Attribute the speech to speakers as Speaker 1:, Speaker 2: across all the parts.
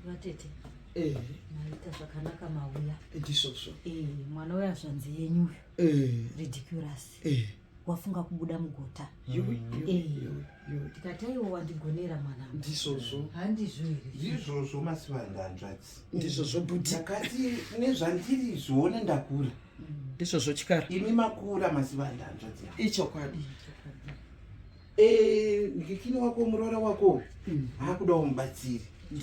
Speaker 1: vatete eh. maita zvakanaka mauya ndisvosvo eh,
Speaker 2: mwana uya
Speaker 1: zvanzi yenyu eh. ridiculous wafunga kubuda mugota tikati aiwo wandigonera mwana ndizvozvo handizvo
Speaker 2: here
Speaker 1: ndizvozvo masivanda
Speaker 3: hanzvadzi ndizvozvo budi
Speaker 2: takati
Speaker 3: nezvandiri zvione ndakura mm. ndizvozvo
Speaker 2: chikara imi makura
Speaker 3: masivanda hanzvadzi ichokwadi
Speaker 2: Eh,
Speaker 3: ndikini wako muroora wako hmm. akuda umubatsiri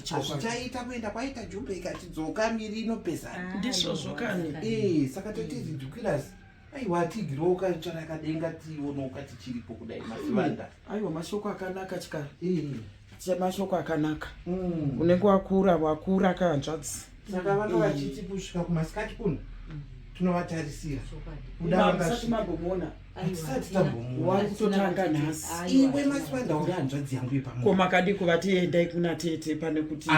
Speaker 3: hazvichaita kuenda kwaita jumbe ikati dzoka miri inopesana ah, ndisvozvo kani
Speaker 2: eh, saka tatizi hmm.
Speaker 3: dukirasi aiwa atigirewo ukatsvara kadenga tionoka tichiripo kudai masivanda hmm. aiwa mashoko
Speaker 2: akanaka chikara eh. semashoko akanaka mm. unenge wakura wakura kahanzvadzi saka vanga vachiti
Speaker 3: kusvika kumasikati kuno tinovatarisira kudaisati
Speaker 2: mambomona hatisati
Speaker 3: tambomona kutotanga nhasi
Speaker 2: iwe masiwandauri
Speaker 3: hanzvadzi yangu yepamko makadii kuvati
Speaker 2: endai kuna tete pane kuti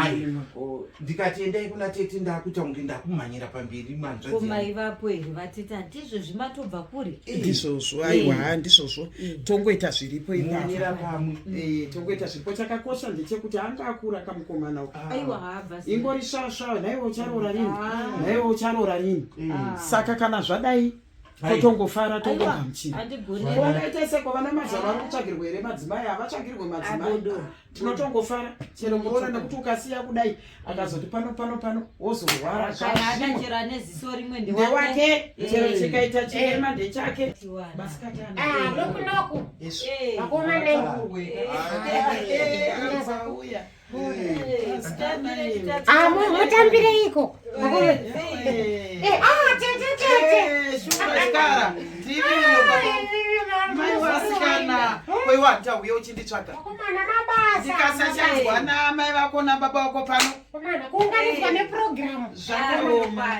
Speaker 2: ndikati
Speaker 3: endai kuna tete ndakuita kunge ndakumhanyira pamberi manzvamai vapo here
Speaker 1: vatete hatizvo zvimatobva kuri eh. ndizvozvo aiwa
Speaker 2: eh. ndizvozvo eh. tongoita zviripo imanira pamwe
Speaker 3: mm. tongoita zviripo
Speaker 2: chakakosha ndechekuti anga akura kamukomana ah. ingori
Speaker 1: svasvaa
Speaker 2: naiwe ucharoora rini ah. naiwe ucharoora rini ah. saka kana zvadai totongofara tongogamuchiraongaita seko vana mazava vari kutsvagirwa here madzimai havatsvagirwe madzimai tinotongofara chero muroona nekuti ukasiya kudai akazoti pano pano pano wozorwara
Speaker 1: ndewake chero
Speaker 2: chikaita chirema ndechake basikatanokunoku
Speaker 4: vakomana Ah, mutambireiko
Speaker 2: waiwatauya uchinditsvaga
Speaker 4: ndikasachanzwa
Speaker 2: namai vako nababa wako pano kuunganidzwa
Speaker 4: neprogramu zvakaoma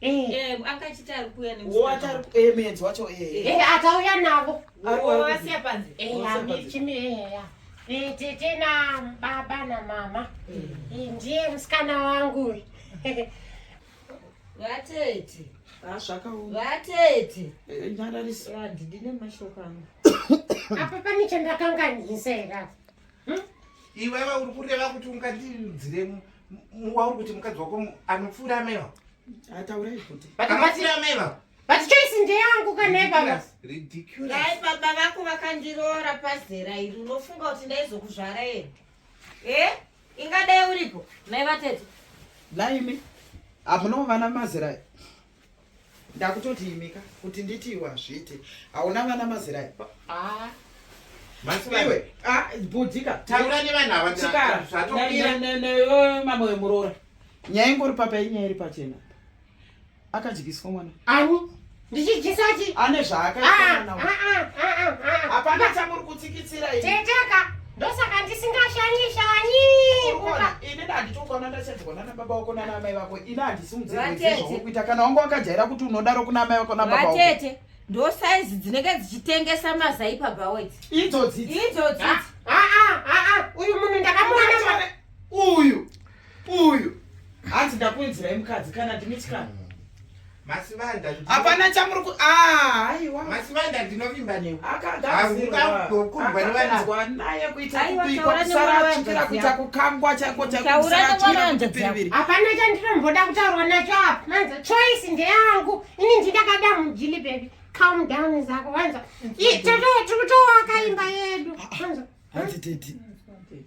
Speaker 2: Eh. Eh, akachiti
Speaker 1: ari kuuya nemuenzi
Speaker 2: wacho atauya navo
Speaker 4: asiya
Speaker 1: panze
Speaker 4: tete nababa namama mm. ndiye musikana wangu
Speaker 1: vatete ah,
Speaker 2: vatete
Speaker 1: eh, nyararisa
Speaker 2: ndine mashoko
Speaker 1: angu apa
Speaker 4: pane chandakanganisa here Hmm?
Speaker 3: Iwewe uri kureva kuti ungandiudzire wauri kuti mukadzi wako anopfuura ameva? Ataurei kuti.
Speaker 2: But anopfuura ameva.
Speaker 3: But choice ndeyangu
Speaker 4: kane baba. Ridiculous. Dai
Speaker 3: baba vako
Speaker 1: vakandiroora pazera iri unofunga kuti ndaizokuzvara here? Eh? Ingadai uripo. Mai vatete. Laimi.
Speaker 2: Apo no vana mazera. ndakutoti imika kuti nditi iwe hazviite hauna vana mazera ah.
Speaker 3: iwe ah, bhudhika
Speaker 2: taura
Speaker 3: nevanhu
Speaker 2: avaaamamwe wemuroora nyaya ingori papa inyaya iri pachena akadyiswa mwana ani
Speaker 4: ndichidyisati ane
Speaker 2: zvaakaapana ah, chamuri kutsikitsira teka ndosaka
Speaker 4: ndisingashanye shanye ini
Speaker 2: ndanditokuona ndasenzwa nana baba wako nana amai vako ini handisimudzezvakuita kana wanga wakajaira kuti unodaro kuna amai vako nababa wako vatete ndo
Speaker 1: saizi dzinenge dzichitengesa mazai pabaweti idzodzidzi
Speaker 2: idzodzidzi ah, ah,
Speaker 4: ah, uyu munhu ndakamuona uyu uyu
Speaker 2: hanzi ndakuinzirai mukadzi kana ndimitikana
Speaker 3: hapana chamuri
Speaker 2: ku ah, aiwa masivanda ndinovimba
Speaker 3: newe akagazirokurwa nevanazwa
Speaker 2: naye kuita kubikwa kusara chikira kuita kukangwa chaiko chaikosaachikirakuipiriviri hapana chandinomboda
Speaker 4: kutaurwa nacho apa manza choice ndeyangu ini ndidakada mujili bebi calm down zako vanza tiri kutoakaimba yedu hanzi
Speaker 2: tete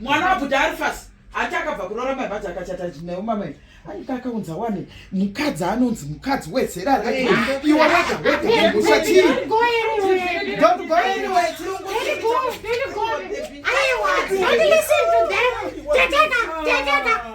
Speaker 4: mwana wabuda ari
Speaker 2: fasi ati akabva kurora mai vacho akachata naye umamai aika akaunza wani mukadzi anonzi mukadzi wezera raiwe wega wegamusha chii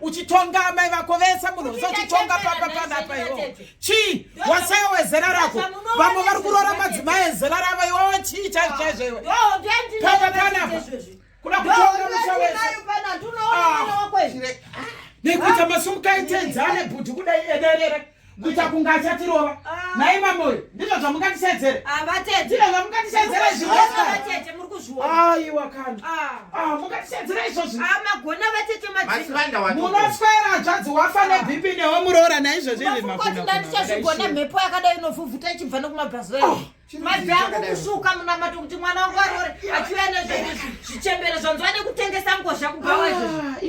Speaker 2: uchitonga amai vako vese munhu vese uchitonga papa panapa iwo chii wasaya wezera rako vamwe vari kuroora madzimai ezera ravo iwowo chii chaizvo chaizvo iwe papa panapa kuda kutonga musa wese nekuita masumukaitedzane bhudhi kudai ederere kuita kunga achatirova nhai mamoyo ndizvo zvamungatisedzere ndizvo zvamungatisedzere zvaiwa kana mungatisedzere izvozvimunoswera hadzvadzi wafa nebp newe muroora naizvozvi izvimakuatichazvigona
Speaker 1: mhepo yakadai inovhuvhuta ichibva nokumabhazoe mabvi angu kusvuka munamato kuti mwana wangu arore achiuya nezvozvichembere zvanzwa nekutengesa ngozha kubhawa izvozvi